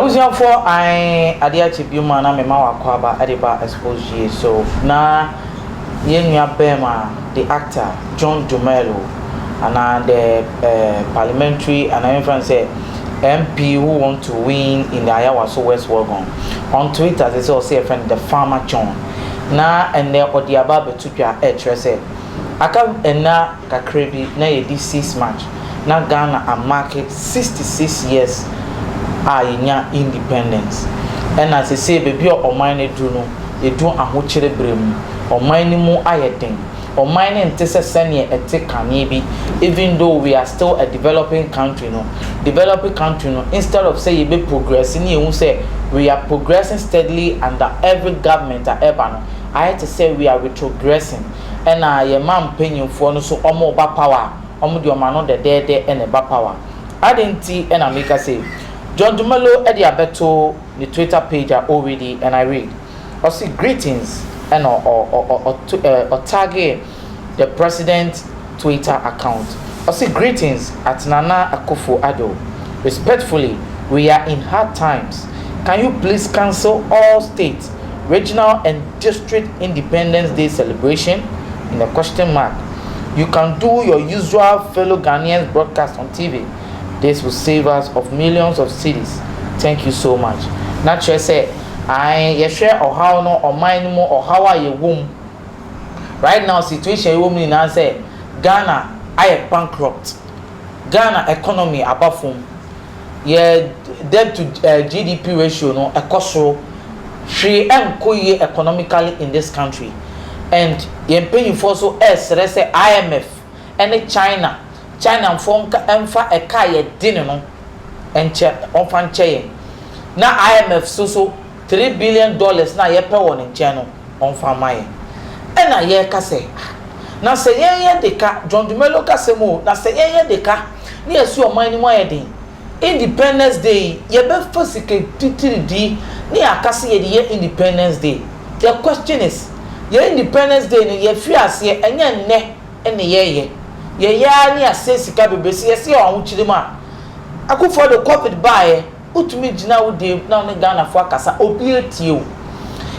abusuafoɔ an adeɛ akye bio mu a na mema wakɔ aba de ba expose yie so na yɛn nua bɛɛma The actor John Dumelo ana the eh, parliamentary ana yɛmfrɛ no sɛ MP who want to win in the Ayawaso West Wuogon on Twitter sɛ sɛ ɔse yɛfrɛ no the farmer John na ɛnnɛ ɔde aba abɛto dwa ɛrekyerɛ sɛ aka nna kakra bi na yɛdi six March. na Ghana amake sixty six years a yɛnya independence. Ɛna sesei baabi a ɔman no aduru no, yɛadu ahokyere berɛ mu. Ɔman no mu ayɛ den. Ɔman no nte sɛ sɛdeɛ ɛte kane bi. Even though we are still a developing country no, developing country no, instead of sɛ yɛbɛ progress ne yɛhu sɛ we are progressing steadily under every government a ɛba no, ayɛ te sɛ we are retrogressing. Ɛna yɛn man mpanyinfoɔ no nso wɔreba power a, wɔde wɔn ano dɛdɛɛdɛ na ɛba power. Adɛn nti na meka sei? John Dumelo de abɛto ne Twitter page a already and I read. Ɔse greetings na ɔ tagee the president Twitter account. Ɔse greetings at Nana Akufo Addo. Respectfully we are in hard times can you please cancel all state Regional and District Independence Day Celebration in a question mark You can do your usual fellow Ghanaians broadcast on TV This will save us of millions of cedis Thank you so much Na kyerɛ sɛ ae yɛhwɛ ɔhaw no ɔman no mu ɔhaw a yɛwɔ mu right now situation a yɛwɔ mu nyinaa sɛ Ghana ayɛ bankrupt Ghana economy aba fam. yɛ debt to eh GDP ratio no ɛkɔ soro, hwee ɛnkɔ yie economically in this country and yɛn mpanyinfoɔ nso ɛresrɛ sɛ IMF ɛne China, Chinanfoɔ nka ɛmfa ɛka a yɛde no nkyɛ, wɔmfa nkyɛ yɛn na IMF nso so. Three billion dollars no a yɛpɛ wɔ ne nkyɛn no, ɔmfa mma yɛn. Ɛnna yɛreka sɛ, Ah, na sɛ yɛn yɛ de ka, John Dumelo kasam o, na sɛ yɛn yɛ de ka na yɛasi ɔman no mu ayɛ den, Independence Day yi, yɛbɛfa sika titiri di na yɛaka sɛ yɛde yɛ Independence Day. The question is, yɛn Independence Day no, yɛafiri aseɛ, ɛnyɛ nnɛ na yɛreyɛ. Yɛyɛ ara na yɛasɛe sika bebree. Sɛ yɛsɛ yɛwɔ ahokyere mu a, Akuffo-Addo, Covid baeɛ. Wotumi gyina wo deɛ mu na wo ne Ghanafoɔ akasa, obi atie wo.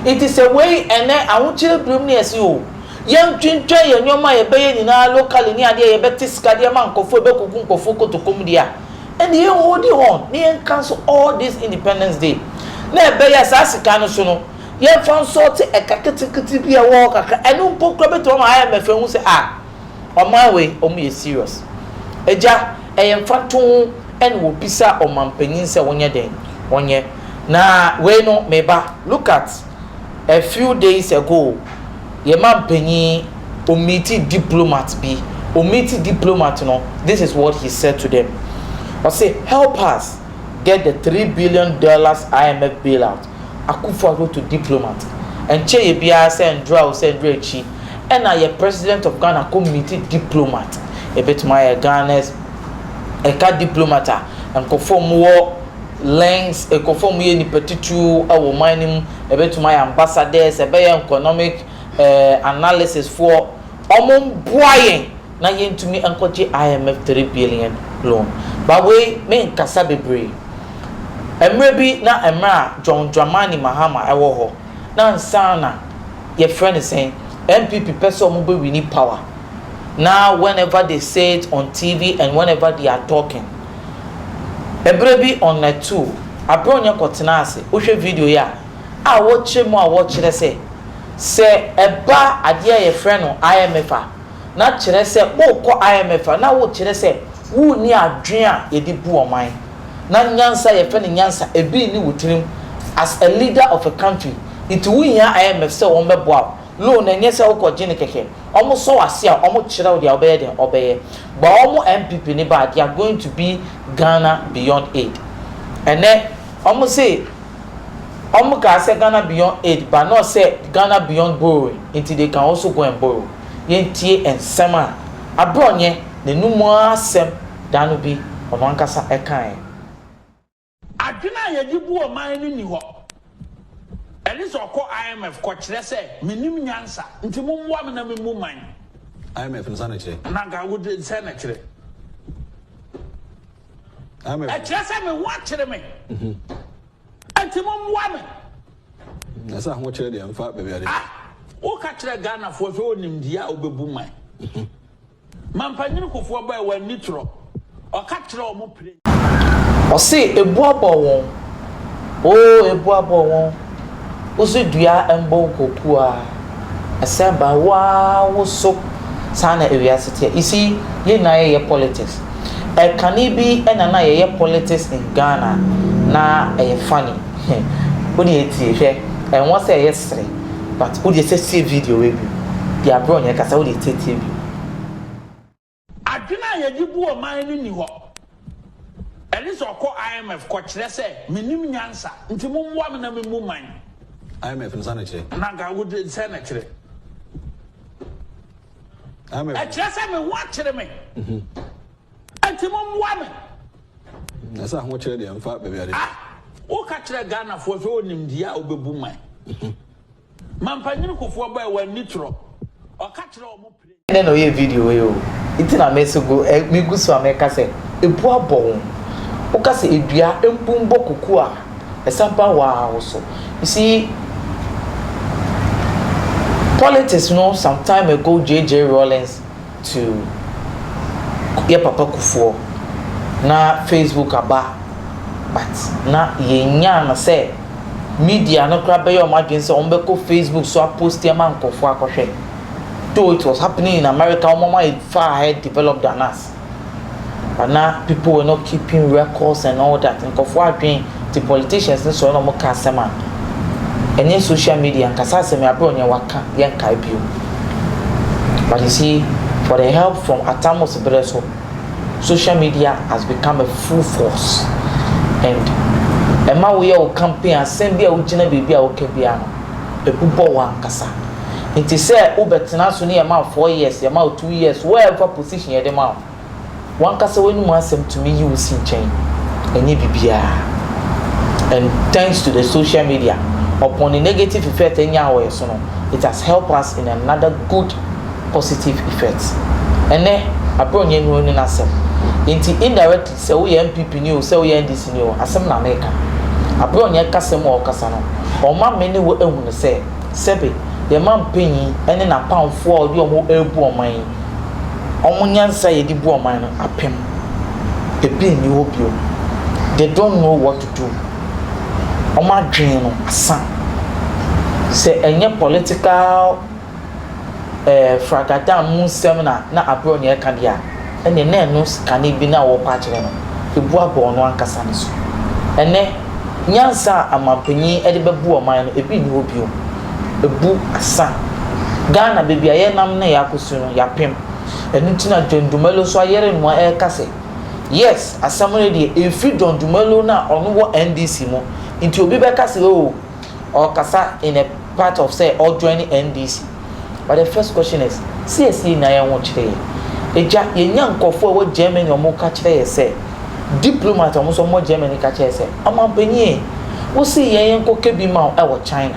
Nti sɛ wei ɛnɛ ahokyerɛ birim ne yɛse oo yɛntwentwɛn yɛn nneɛma a yɛbɛyɛ nyinaa locally ne adeɛ a yɛbɛte sika de ama nkorɔfoɔ a ɛbɛkɔgu nkorɔfoɔ kotoko mu deɛ a, ɛnneɛ yɛn holdi on na yɛnka nso all this independence day na ɛbɛyɛ a saa sika no so no yɛmfa nsɔɔte ɛka ketekete bi a ɛwɔ hɔ kakra, ɛno mpo koraa bɛtumi ama IMF ahu sɛ ah, Ɔman wei ɔmo yɛ serious. Agya, ɛyɛ mfatoho ɛna wɔbisa ɔmanpanyin sɛ ɔnyɛ dɛn? Ɔnyɛ. Na wei no, me ba, look at a few days ago, yɛn manpanyin, ɔmeeti diplomat bi. Ɔmeeti diplomat no, this is what he said to them. Ɔse, help us get the three billion dollars IMF bailout. Akuffo Addo to diplomat, Ɛnkyɛeɛ biara sɛ ndora o sɛ ndora akyi na yɛ President of Ghana kɔ meet diplomat. Ɛbɛtumi ayɛ Ghana's ɛka diplomat a nkurɔfoɔ a wɔwɔ links, nkurɔfoɔ a wɔyɛ nnipa titiriw wɔ ɔman no mu, ɛbɛtumi ayɛ ambassadors, ɛbɛyɛ economic analysis foɔ, wɔmmoa yɛn. na yɛntumi nkɔgye IMF three billion loan. But wei me nkasa bebree. Ɛmmerɛ bi na ɛmmerɛ a John Dramani Mahama ɛwɔ hɔ na ansa na yɛfrɛ no sɛn NPP pɛ sɛ wɔn bɛ wini power na whenever they say it on TV and whenever they are talking ɛberɛ bi on a two aberɛ ɔnyɛ kɔ tenaa ase wo hwɛ video yi a a wɔkyerɛ mu a wɔkyerɛ sɛ sɛ ɛba adeɛ a yɛfrɛ no IMF a na kyerɛ sɛ worekɔ IMF a, na wokyerɛ sɛ wonni adwene a yɛde bu ɔman, na nyansa a yɛfrɛ no nyansa, ebi nni wo tirim. As a leader of a country, nti wohia IMF sɛ wɔmmɛboa wo. Loan no, ɛnyɛ sɛ wokɔgye no kɛkɛ. Wɔsɔ wo ase a, wɔkyerɛ wo deɛ wobɛyɛ dɛn? Wobɛyɛ. But wɔn NPP no ba a, they are going to be Ghana Beyond Aid. Ɛnnɛ, wɔse wɔkaa sɛ Ghana Beyond Aid, but not sɛ Ghana Beyond Borrowing, nti they can also go and borrow. yentie nsɛm a abrɔnyɛ n'anom mu ara asɛm da no bi ɔno ankasa kae. Adwene a yɛde bu ɔman no nni hɔ. Ɛne sɛ ɔkɔ IMF kɔkyerɛ sɛ, Mennim nyansa, nti mommoa me na memmu man. IMF no sɛ na ɛkyerɛ? Na anka wode sɛ na ɛkyerɛ. IMF. Ɛkyerɛ sɛ me ho akyere me, nti mommoa me. Ɛsɛ ahokyerɛ deɛ mfa baabi ade. Ah! Woka kyerɛ Ghanafoɔ sɛ ɔnim deɛ a wobɛbu man. Mampanyini Kufuor bae wanni torɔ. Ɔka kyerɛ wɔn pire. Ɔse ebu abɔ won oo ebu abɔ won Wose dua mbɔ nko kuaa Ɛsɛn ba wo aa wo so Saa na ewiase teɛ You see yɛn nyinaa yɛyɛ politics Ɛkane bi na na yɛyɛ politics in Ghana Na ɛyɛ funny. He wo deɛ tie hwɛ ɛnwɔ sɛ yɛ sere but wo deɛ sɛ tie video wei bio deɛ abrɛ ɔnyɛ kasa wo deɛ tie tie bio. Adwene a yɛde bu ɔman no nni hɔ. Ɛnese ɔkɔ IMF kɔ kyerɛ sɛ menim nyansa nti mommoa me na memmu man. IMF no sɛ na kyerɛ? Na nka wo de sɛ na kyerɛ. IMF. Ɛkyerɛ sɛ me ho akyere me. Enti mo mmoa me. Na sɛ ahokyerɛ deɛ mfa baabi ade. Ah, woka kyerɛ Ghanafoɔ sɛ wonim deɛ a wobɛbu man. Mampanyini Kufuor bɔɛ wɔn ani torɔ. Ɔka kyerɛ wɔn mo pire. Ɛnɛ na ɔyɛ video wei o. Nti na me so go eh me gu so a mɛka sɛ ebu abɔ wo. Woka sɛ edua mbu mbɔ kuku a ɛsa ba wo ara wo so. You see politics no some time ago JJ Rawlings to yɛ papa kufoɔ na Facebook aba but na yɛnyaa no sɛ media no koraa bɛyɛ wɔn adwene sɛ wɔbɛkɔ Facebook so a post ama nkorɔfoɔ akɔhwɛ though it was happening in America wɔn ayɛ far ahead developed than us. Ana people were not keeping records and all that nkurɔfoɔ adwene nti politicians no sɔre na wɔka asɛm a ɛnyɛ social media nkasa asɛm abrɛ wɔn nea waka yɛnkae bio but you see for the help from Atamos berɛ so social media has become a full force and ɛma woyɛ wo campaign asɛm bi a wogyina baabi a woka biara no ɛbubɔ wo ankasa. Nti sɛ wo bɛ tena so ne yɛ ma wo four years, yɛ ma wo two years, wo a ɛmfa position yɛ de ma wo. Wankasa w'anim asɛm tumi yi wo si nkyɛn. Ɛnyɛ bibiaa. And thanks to the social media, upon the negative effect ɛnyaa wɔ yɛ so no, it has help us in another good positive effect. Ɛnɛ, abrɛ ɔnyɛ nnuro ne n'asɛm. Nti indirectly sɛ wo yɛ NPP ni o, sɛ wo yɛ NDC ni o, asɛm na meka. Abrɛ ɔnyɛ kasa mu a ɔkasa no, ɔma me ne wo ahunu sɛ, Sɛbe, yɛn man panyin ne n'apamfoɔ a ɔde wɔn rebu ɔman yi, wɔn nyansa a yɛde bu ɔman no, apem. Ebi nni hɔ bio. They don't know what to do. Wɔn adwene no asa. Sɛ ɛnyɛ political ɛɛ fragadan mu nsɛm na na Abrɔn reka deɛ a, ɛnneɛ na ɛno sikane bi no a wɔrekɔ akyerɛ no, ɛbu abɔ ɔno ankasa no so. Ɛnnɛ, nyansa a amanpanin de bɛbu ɔman no, ebi nni hɔ bio. Abu asa. Ghana, baabi a yɛnam na yɛakɔsu no, yɛapem. Ɛno nti na John Dumelo nso ayere ne ho a ɛreka sɛ, Yes, asɛm no deɛ, ɛfiri John Dumelo no a ɔno wɔ NDC mu nti obi bɛka sɛ oo, ɔkasa in a part of sɛ ɔ join NDC but the first question is sɛ yɛ si nya yɛn ho kyerɛ yɛ agya yɛ nya nkorɔfoɔ a wɔ Germany a ɔmo ka kyerɛ yɛ sɛ diplomat ɔmo sɔ ɔmo Germany ka kyerɛ yɛ sɛ ɔmanpanyin ee wo si yɛn yɛn kɔ kɛ bi ma wo ɛwɔ China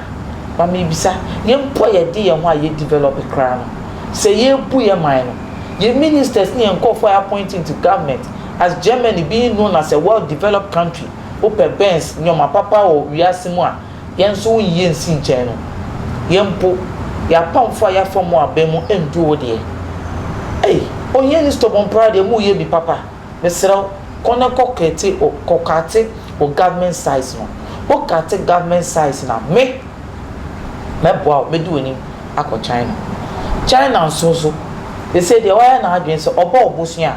ma me bisa yɛ mpo a yɛ de yɛ ho a yɛ develop koraa no sɛ yɛ bu yɛ man no yɛ ministers ne yɛ nkorɔfoɔ a yɛ appoint into government as Germany being known as a well develop country. wopɛ Benz nneɛma papa wɔ wiase mu a, yɛn nso wo nyi nsi nkyɛn no. Yɛn mpo, yɛn apamfo a yɛafa mu aba mu nndu wo deɛ. Ei, ohiani Stobomprah deɛ moreyɛ bi papa. Mesrɛ wo, kɔ na kɔ kɛte o, kɔ kate wo government size no. Wo kate government size no a, me, mɛboa wo, mɛdi w'anim akɔ China. China nso so, seesei deɛ wayɛ n'adwene sɛ ɔbɔ ɔbosea a,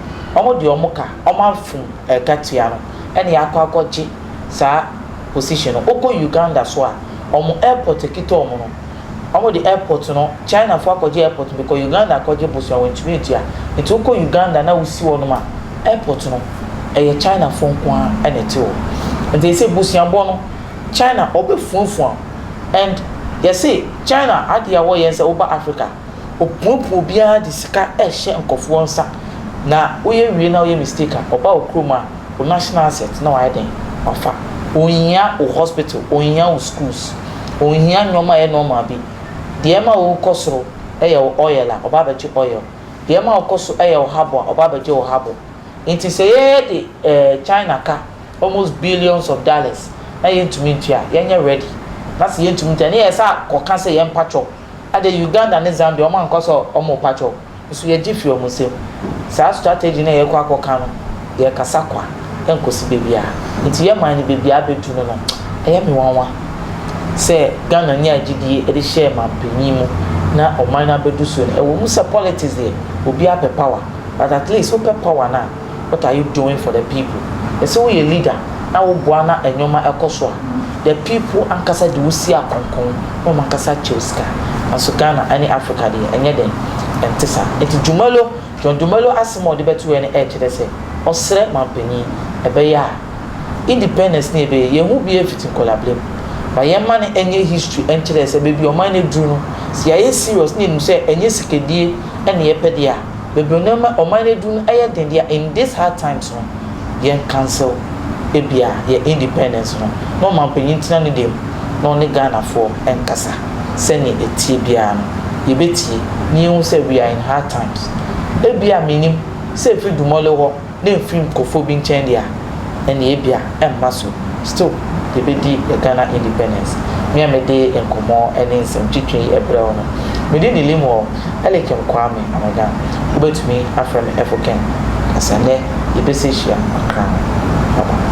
wɔn deɛ wɔn ka, wɔn afom ɛkatua no ɛna yɛakɔ akɔgye saa position no. Wokɔ Uganda so a, wɔn airport ɛkita wɔn no, wɔn de airport no, China foɔ akɔgye airport no because Uganda akɔgye bosea wɔn ntumi ntua. Nti wokɔ Uganda na wosi hɔ nom a, airport no ɛyɛ China foɔ nko ara ɛna ɛte hɔ. Nti ɛsɛ busuabɔ no, China wɔbɛfuafua wo and yɛse China adeɛ a wɔyɛ ne sɛ woba Africa, Opuopua obi ara de sika hyɛ nkorɔfoɔ nsa na woyɛ wie na woyɛ mistake a ɔba wo kurom a wo national asset na wayɛ dɛn? Wafa. Onhia wo hospital, onhia wo schools, onhia nnoɔma a ɛyɛ normal bi. Deɛ ɛma wo kɔ soro yɛ wo oil a ɔba abɛgye oil, deɛ ɛma wo kɔ so yɛ wo habo a ɔba abɛgye wo habo. Nti sɛ yɛde China ka almost billions of dollars na yɛntumi ntua a yɛnyɛ ready na sɛ yɛntumi ntua a ne yɛsan kɔka sɛ yɛmpa kyɛw. Ade Uganda ne Zambia ɔmo ankɔ sɛ ɔmo repa kyɛw nso yɛgye fi ɔmo nsam. Saa strategy no a yɛkɔ akɔ ka no yɛ kasa kwa ɛnkosi baabiara. Nti yɛ man no baabiara abɛtu no no ɛyɛ me nwanwa sɛ Ghana nyaa gyidie de hyɛɛ manpanyin mu na ɔman no abɛdu so no. Ɛwɔ mu sɛ politics deɛ obiara pɛ power but at least wopɛ power no a, what are you doing for the people yɛsɛ woyɛ leader na woboa na nnoɔma ɛkɔ so a the people ankasa de wo si akronkron na wɔn ankasa kyɛw sika nanso Ghana ɛne Africa deɛ ɛnyɛ dɛn ɛnte saa nti Dumelo John Dumelo asɛm a ɔde bɛtoɛ no ɛkyerɛ sɛ ɔsrɛ manpanyin ɛbɛyɛ a independence no yɛbɛyɛ yɛn ho biara fiti nkɔlabrɛ mu ma yɛn ma no ɛnyɛ history ɛnkyerɛ sɛ baabi ɔman no aduru no sɛ yɛayɛ serious na yɛnim sɛ ɛnyɛ sikadie ɛne yɛpɛ deɛ a. bebree no ɛma ɔman no aduru no ɛyɛ den deɛ in this hard times no yɛn cancel ɛbia yɛn independence no na ɔmanpanyin ntena ne dɛm na ɔne Ghanafoɔ nkasa sɛdeɛ ɛteɛ biara no yɛbɛtie na yɛnhu sɛ we are in hard times ɛbia mennim sɛ ɛfiri Dumole hɔ na ɛmfiri nkurɔfoɔ bi nkyɛn deɛ a, ɛnneɛ ebia ɛmma so. Still, yɛbɛdi yɛn Ghana independence. Me a mede nkɔmmɔ ne nsɛmtwitwi yi rebrɛ wo no, me din de Limuel Eliakim Kwame Amogyam. Wobɛtumi afrɛ me Efo-Ken. Kasanɛ yɛbɛsi hyia Accra. Bye bye.